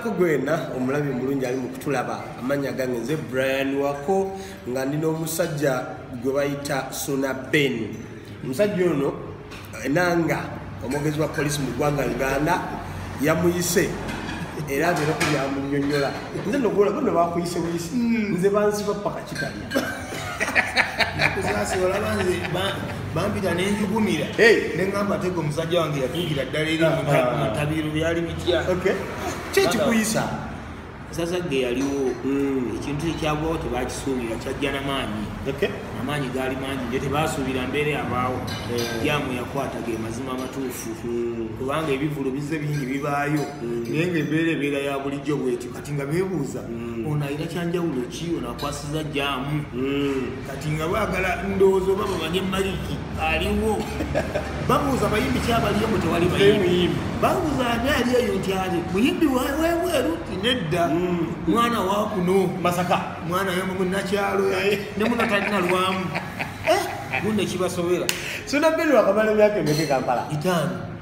kugwena omulabi omulungi ali mu kutulaba amannya gange nze brian wako nga ndi n'omusajja gwe bayita suna ben omusajja ono enanga omwogezi wa polisi mu ggwanga uganda yamuyise era bera okuyamunyonyola nze nogula bona bakuyise buyisi hmm. nze bansiba paka kitalya nakuzaasi olaba nze bampita nenjugumira neŋamba tega omusajja wange yatuukira ddala eri mutabiiro byali bitya kyekikuyisa sasagge yaliwo mm. ekintu ekyagwawo tebakisuubira kyajja namaanyi amaanyi gaali mangi nyo tebasuubira mbeera yabaawo yamu eh. yakwata ge mazima amatuufu mm. kubanga ebivulu bizze bingi bibaayo mm. naye nga embeera ebeera ya bulijjo bweti kati nga bebuuza mm. ono alina kyanjawulo ki ono akwasiza jaamu mm. kati nga baagala ndowooza oba babanye maliki aliwo babuuza bayimbi kyabaliyo mu tewali bayimbi babuuza ani ali eyo nti ali muyimbi wewebweru ti nedda mm. mwana wakuno masaka mwana yomunakyalo eh. ne muno talina lwamu eh, guno kibasobera sonabeerwakamala emyaka emeke kampala itaano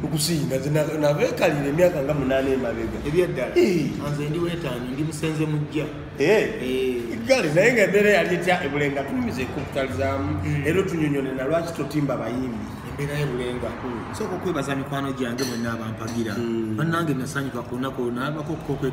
okusinga nze na- nabekalira emyaka nga munaana emabega ebyeddala Eh. nze ndi wetaano ndi musenze mujja Eh, Eh. gale naye nga embeera yali etya ebulenga tumize ekukutalizaamu Mm. era otunyonyole na lwaki totimba bayimbi embeera y'ebulenga sooka okwebaza mikwano gyange mwenna abampagira Mm. bannange nasanyuka ku lunaku olunalabako okukoka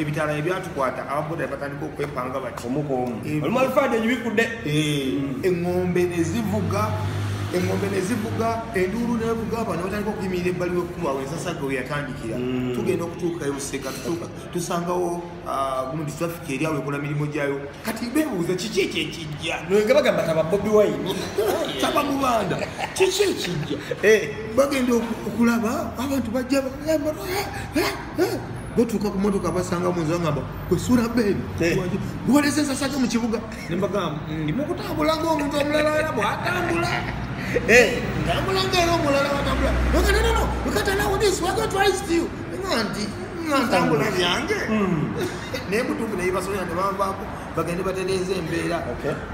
ebitaala ebyatukwata ababoda batandika okwepanga batiolumalufade eh, ebikudde eh, eŋombe nezivuga eŋombe nezivuga enduulu nevuga bano batandika okuyimirira ebbali wekkubo awo ensasaga weyatandikira mm. tugenda okutuuka ebuseka tusangawo ah, gundi trafiki eri awo ekola mirimu gyayo kati bebuuza kiki ekyo ekijja nogebagamba taba bobi wine taba mubanda kiki ekijja eh. bagenda okulaba abantu bajja batuuka ku motoka basanga mu nzira ngamba kwesula beebi eh. gwalese ensasage mu kibuga nembagamba ndimu kutambula ngaomuntu omulala era bwatambula eh. ntambula ngaera omulala watambula okananono okatanaudiswagatwaistiyo nganti ntambula byange hmm. naye mutuufu naye basobola ne banvaako bagende batereeza embeera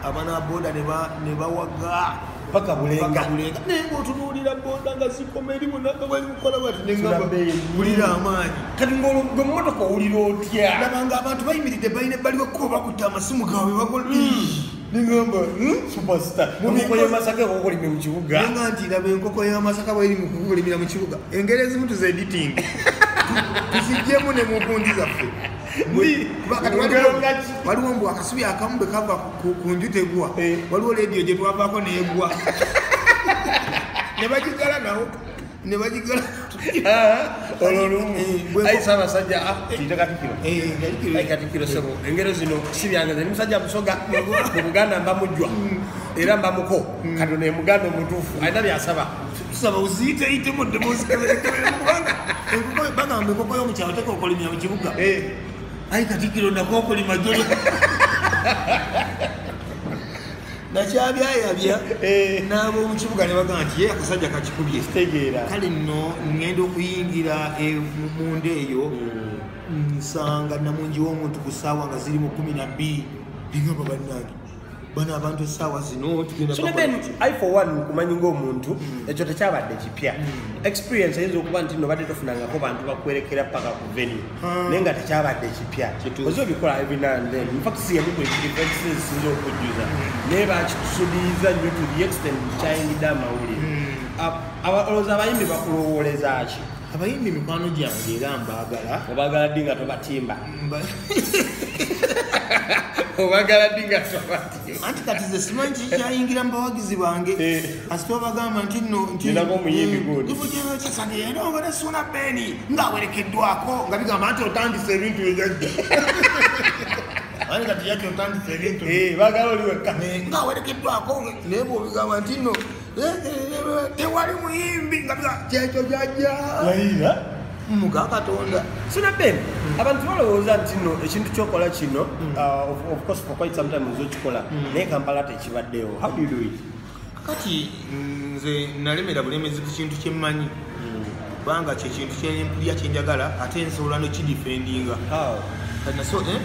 abana boda ne bawaga paka bulenga naye ngaotunuulira boda nga zikoma eri bunanga bwali bukola bwati newulira amaanyi kati ngologwe mumotoka owulira otya labanga abantu bayimiridde balina ebbali wekkuba bakutte amasimu gaabwe bakola hmm. nigamba hmm? superstarmunkoko yamasaka ekokolimye mu kibuga nga nti laba enkoko yamasaka bweri mu kukulimira mu kibuga engeri ezimu tuzediting tuzijjemu ne mu mpundi zaffe waliwo mbu akasubi akamu bwe kava ku nju tegwa eh. waliwo lediyo gye twavaako negwa ne bagigala nawo ne bagigala ololumuaisabasajja katikiro sebo engero zino sibyange ni musajja musoga mu buganda mba mujwa era mba muko mm. kati nemuganda omutuufu alina byasaba tusaba uziyiteyitemu eddoboozi kubanga enkoko bagamba enkoko y'omukyalo teka okolimya mu kibuga eh. ayi katikiro nakokolima joli nakyabyayabya eh. n'ab'omukibuga ne bagamba nti ye akasajja kakikubye kale nno ŋŋenda okuyingira eh, munda eyo hmm. nsanga namungi w'omuntu ku ssaawa nga ziri mu kumi na bbiri nengamba bannange bano abantu esaawa zino tugendaikumanyi ngaomuntu hmm. ekyo tekyabadde kipya hmm. experience eyinza okuba nti no badde tofunangako bantu bakwerekera paka ku venu hmm. naye nga tekyabadde kipya oza obikola evinandenfakisiyamukuekiisinza okujjuza naye bakitusudiiza nyo to the extent kyayingidde amawulire olowooza abayimbi bakulowoolezaki abayimbi mikwano gyange era mbaagala obaagala ddi nga tobatimba obagala dinga tobati anti kati ze simanyi kikyayingira mu bawagizi bange eh. kasita obagamba nti nno ntiibujeekyasage era obere suuna beni ng'awerekeddwako nga bigamba nti otandisa ebintu byejajja eh, bagala oli wekka ng'awerekeddwako naye bwobigamba nti nno tewali muyimbi nga kyekyo jajja muga katonda sina ben hmm. abantu balowooza nti no ekintu kyokola kino hmm. uh, of course for quite some time ozokikola hmm. naye kampala tekibaddewo how do you do it kati nze nalemera bulemezi ku kintu kyemmanyi kubanga kyekintu kyempulira kyenjagala ate nsobola nokidifendinga eh?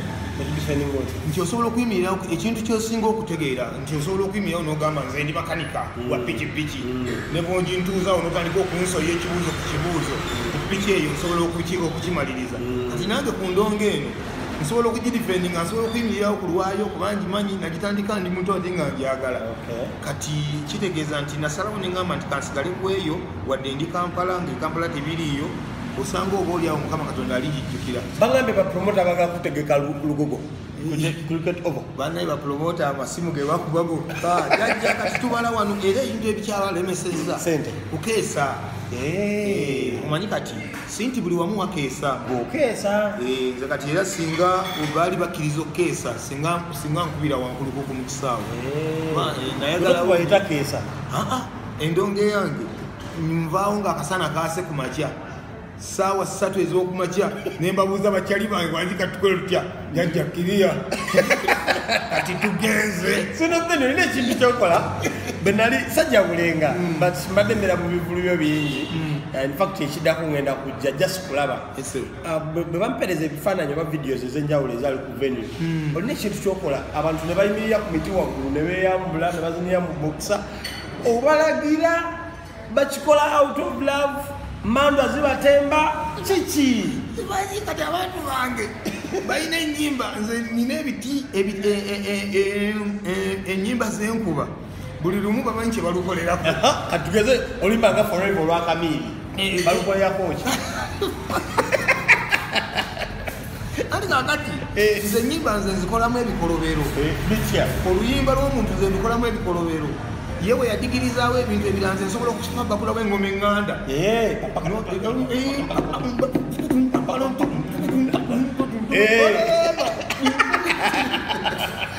nti osobola okuyimirira ekintu kyosinga okutegeera nti osobola okuyimirirawo nogamba nze ndi makanika wa mm. pikipiki mm. nebongintuuzawo notandika okunsoya ekibuuzo ku kibuuzo piki eyo nsobola okukimaliriza mm. kati nange ku ndongo eno nsobola okugidifendinga nsobola okuyimirirawo ku lwayo kubangi manyi nagitandika ndi muto ndi nga njagala kati kitegeeza nti nasalawo neŋamba nti kansigale kweyo wadde ndi kampala nga ekampala tebiriiyo osanga oba oliawo mukama katonda alijijjukira bagambe bapromota bagala kutegeka lugogo banaye bapromota amasimu ge bakubago jajja kati tubala wano era ebintu ebikyabalemeseza kukeesa eh. omanyi kati sinti buli wamu wakeesa okeesa eh, nze kati era singa baali bakkiriza okukeesa singa singa nkubira wankuluko ku mukisaawe nayagalaetakeesa endongo eyange nvaawo nga akasana kaase ku makya saawa ssatu ez'okumakya ne mbabuuza bakyali bange wangi katukola tutya jajja kiriya kati tugenze sinothen olina ekintu kyokola benali sajja bulenga mm. but mbadde mbera mu bivulu byo bingi mm. infact ekiddako ngenda kujja just kulaba Ah, bwe bampereza ebifaananyi oba videos ezenjawulo ezaali ku venu hmm. olina ekintu kyokola abantu ne bayimirira ku miti waggulu ne beyambula ne bazinira mu bokisa obalagira bakikola out of love mando azibatemba kiki imanyi kati abantu bange balina enyimba nze nina ebiti enyimba e, e, e, zenkuba buli lumu bamanyi kyebalukolerako katugeze olimba nga forever olwakamiiri eh, eh, balukolerako ki anti kakati eh. nze nyimba nze nzikolamu ebikolobero bitya oluyimba lwomuntu nze ndikolamu ebikolobero ye we yadigirizawo ebintu ebira nze nsobola okusifa bakulawo engoma enganda Hey.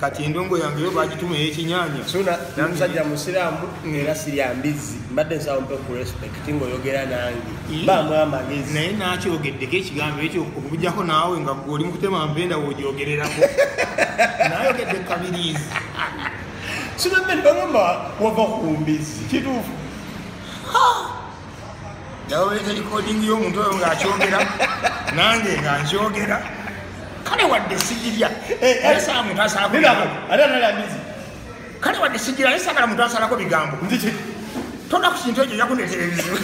kati endongo yange yo bagituma eyekinyanya musajja musiraamu era sirya mbizzi mbadde nsaba mpe ku respect ngaoyogera nange bamu amagezi naye nakyogeddeko ekigambo ekyo okubujjako naawe nga gwe oli mukutema mpenda wogyogererako nayogedde kabiriizi sinambe nibagamba wava ku mbizzi kituufu yawoleka recording y'omuntu oyo ng'akyogera nange nga nkyogera kale wadde sigirya eh, eh. ayesala muntu asalako kale wadde sigirya ayesagala muntu asalako bigambo tona ku kintu ekyo yakuleetera ebizibu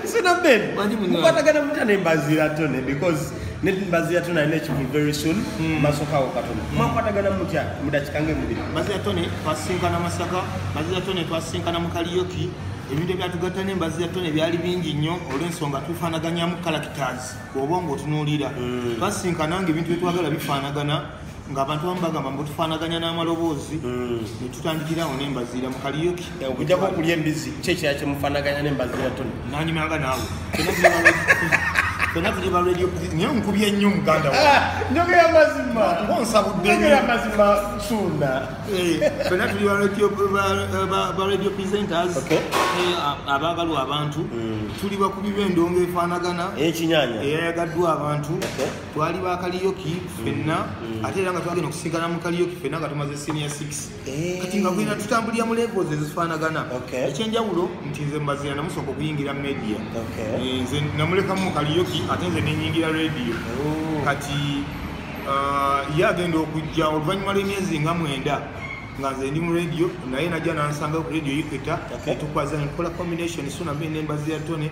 sinaben mukwatagana mutya nembazira tone because nebaziya tone alina ekivulu very soon hmm. masokawo katono hmm. mwakwatagana mutya mudakika nga emubiri baziya tone twasisinkana masaka baziya tone twasisinkana mukaliyoki ebintu ebyatugatta nembazi ya tone byali bingi nnyo olwensonga tufaanaganyamu kalakitazi oba ngaotunuulira hmm. twasisinkananga ebintu byetwagala bifaanagana nga abantu bamu bagamba mbu tufaanaganya n'amaloboozi hmm. ne tutandikirawo n'embaziira mu kaliyoki eh, okujjako okulya embizi ki ekira kye mufaanaganya n'embaziira toni nanyumanga naawe fena tuli balwedi naye nkubye nnyo muganda ah, njogera mazima onsabuddeera mazima suuna eh, fena tuli baradio presenters eh, abaagalwa abantu hmm. tuli bakubi b'endongo efaanagana ekinyanya eyayagaddwa abantu twali ba kaliyoki fenna mm. ate era nga twagenda okusinkana mu kaliyoki fenna nga tumaze senior 6 eh. kati nga kwena tutambulira mu levels ezifaanagana ekyenjawulo nti nze mbazira namusooka okuyingira media eh, nze namulekamu mu kaliyoki ate nze nenyingira radio oh. kati uh, ye agenda okujja oluvannyuma lw'emyezi nga mwenda nga nze ndi mu radio naye najja nansanga ku radio yikweta etukwaza nkola combination sona be nembazi ya tone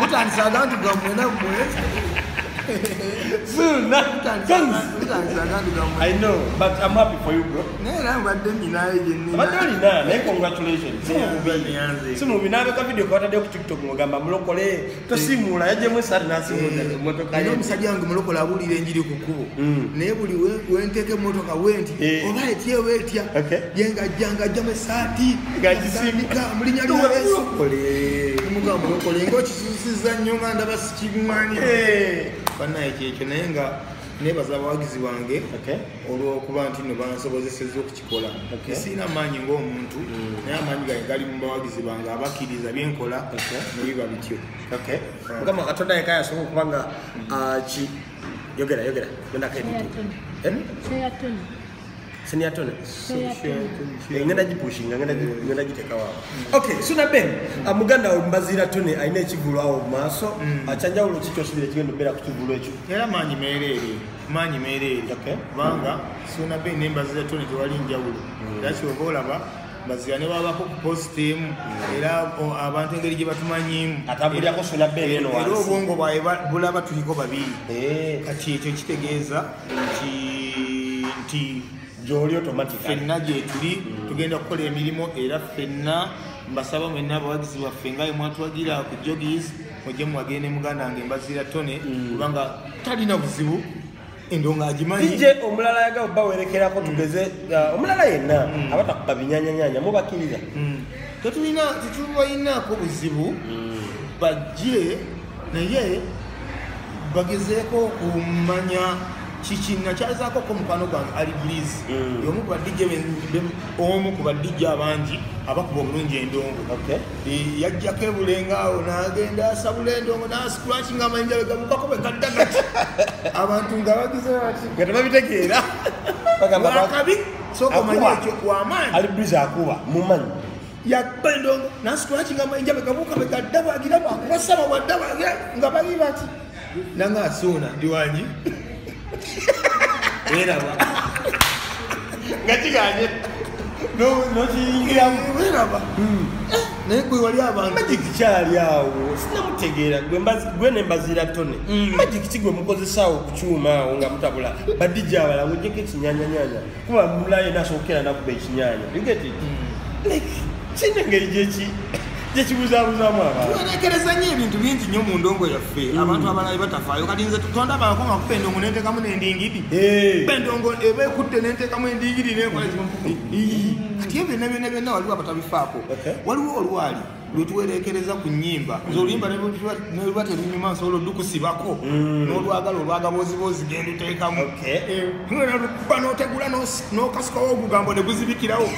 mutandise agantu gamwena mwe simubi nabeka vidio kawatadde ku tiktok mugamba mulokole tosimuula yajemu esati nasimuomusajja wange mulokole abuulira enjiri ku kkubo naye buli wenteka emotoka wenti oba etyewo etya yenga ajjanga ajja mu esaati ngagisindika mu linya lya yesu omugamba okole nga okisusiza nnyo nga ndaba sikimanyi eh. banaye kyekyo naye nga nebaza abawagizi bange olwokuba nti no bansobozeseza okukikola esiina maanyi ngaomuntu mm. naye amaanyi gange gali mu bawagizi bange abakiriza byenkola nebiba bityo mukama katonda yeka yasobola okuba nga mm. ah, ki yogera yogera yonakaebitu Senior Tony. Senior Tony. Ngenda jipushing, ngenda ngenda jiteka wao. Okay, so na Ben, mm. amuganda mbazira Tony aina ekigulu awo maso, mm. achanja ulo chicho sibire kigendo bera kutugulu echo. Yala manyi merere, manyi merere. Okay. Banga, so na Ben mbazira Tony twali njawulo. Mm. That's your goal aba. Bazira ne baba ko post team mm. era abantu engeri gye batumanyimu atambulira ko sula bere no wansi. Era obwongo bwa bulaba tuliko babiri. Eh. Kati ekyo kitegeeza nti gyoli otomatika fenna gyetuli mm. tugenda kukola emirimu era fenna mbasaba mwenna abawagizi baffe nga emwatuwagira ku jogis mujje muwagire ne muganda wange mbazira tone mm. kubanga talina buzibu endonga agimanyi omulala yaga bawerekerako mm. tugeze uh, omulala yenna mm. abatakuba binyanyanyanya mubakiriza tetulina tetulinaako buzibu bajje naye bagezeeko okumanya kikinna kyazaako ko mukwano gwange ali breeze mm. omu kuba dj omu kuba dj abangi abakuba obulungi endongo yajjako ebulenga awo nagenda asabula endongo nascratchinga amayinja wegabukako bekaddagati abantu nga bagize bati nga tebabitegeera wakabi sokomanya ekyo kwamaani ali breeze akuba mumanyi yakuba endongo nasitwaki nga mayinja bwegabuuka bwegadda bwagira bwakubasaba bwadda bwagira nga bali bati nanga asuuna ndiwanyi weraba nga kiganye nokiyingiramu weraba hmm. eh, naye gwe wali abantu magic kyali awo sinamutegeera gwe nembazira tone hmm. magic ki gwe mukozesawo ku kyuma awo nga mutabula badijja abalamu jeko ekinyanyanyanya kuba mula yena asokera nakuba ekinyanya yugeti mm. like kine ngeri gyeki gyekibuzabuzamu abaekereza nyo ebintu bingi nyo mu ndongo yaffe mm. abantu abalabi batafaayo kati nze tutonda banko nga kupa endongo nentekamu nendingidi eh. kupa endongo eba ekutte nentekamu endingidi nekola kati ebyo byonna byonna byonna waliwo abatabifaako waliwo olwali lwetuwerekereza ku nyimba nze oluyimba neluba terunyuma nsobola odukusibako mm. nolwagala olwaga boziba ozigenda utekamu eh, lukuba notegula nokasukawo ogugambo neguzibikirawo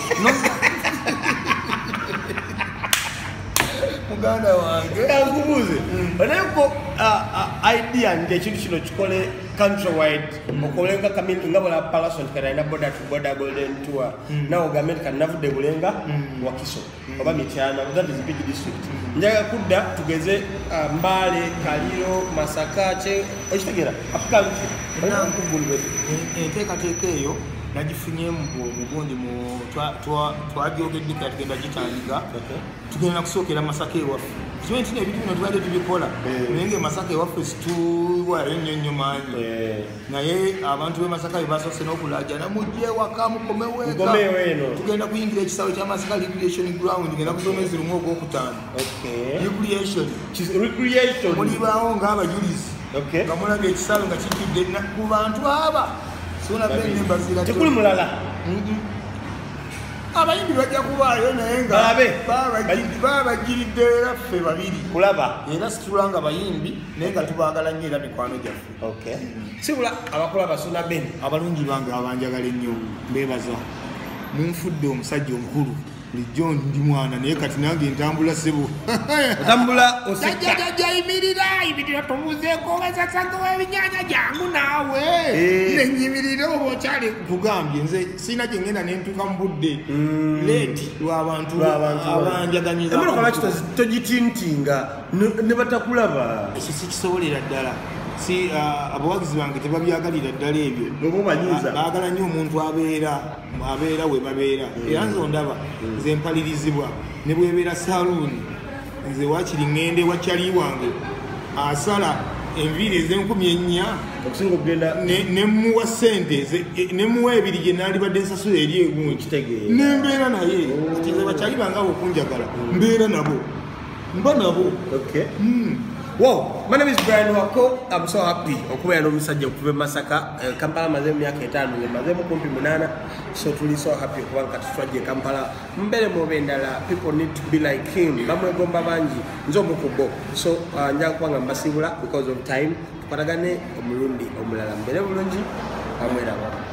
muganda wange akubuuze oneko idea nti ekintu kino kikole country wide okole nga kamini nga bola palaso nti kati alina boda to boda golden tour nawe ogambe nti kati navudde bulenga wakiso oba mityana that is big district njaga kudda tugeze uh, mbale kaliro masaka kye okitegera afukanki enteekateeka eyo nagifunyemu mugundi twagyogedde kati tugenda gitandika tugenda nakusookera masaka ewaffe kimanyi tino ebintu bino tubadde tubikola eh. naye nga emasaka ewaffe situwayo nnyo nnyo maanyi eh. naye abantu bemasaka bebasose nokulajana mujje waka mukomewekatugenda eno kuyingira ekisawe kya masaka recreation ground ngenda kusomezi lumu ogwokutano recreation recreation mulibawo nga abajulizi okay nga mulabye ekisawe nga kijjudde ku bantu aba sona benembazira tekuli mulala abayimbi bajja kubaayo naye nga babajjiridde era ffe babiri kulaba era situla nga bayimbi naye nga tubagala nnyo era mikwano gyaffe okay. sibula abakulu abasuna ben abalungi bange abanjagala ennyo bebaza munfudde omusajja omukulu bulijjo ndi mwana naye kati nange ntambula sebo otambula osekjayimirira imirira tomuzeeko obasasange webinyanya jangu naawe eh. nenyimirira oba okyali kugambye nze siina gyengenda nentuuka mu budde mm. leeti lwabantu abanjaganyiza togitintinga ne batakulaba ekyo sikisobolera ddala si uh, abawagizi bange tebabyagalira ddala ebyo baagala nnyo omuntu abeera abeera we babeera mm. era nze ondaba mm. nze mpalirizibwa ne bwebeera saluuni nze wakiri ŋŋenda ewa kyali wange asala enviiri ezenkumi ennya nemuwa sente e, nemuwa ebiri gye naalibadde nsasula eri egungi nembeera naye oh. kitezebakyali bangawo okunjagala mbeera nabo mba nabo okay. mm. Wow, my name is Brian Wako. I'm so happy okubeera n'omusajja okuva e Masaka. Eh, Kampala maze emyaka etaano nge maze mukumpi munana. So tuli so happy okuba nga tutwajja e Kampala. Mbere mu bendala people need to be like him. Bamwegomba bangi nze omu ku bo. So uh, nja kuba nga mbasibula because of time. Tukolagane omulundi omulala. Mbere bulungi bamweraba.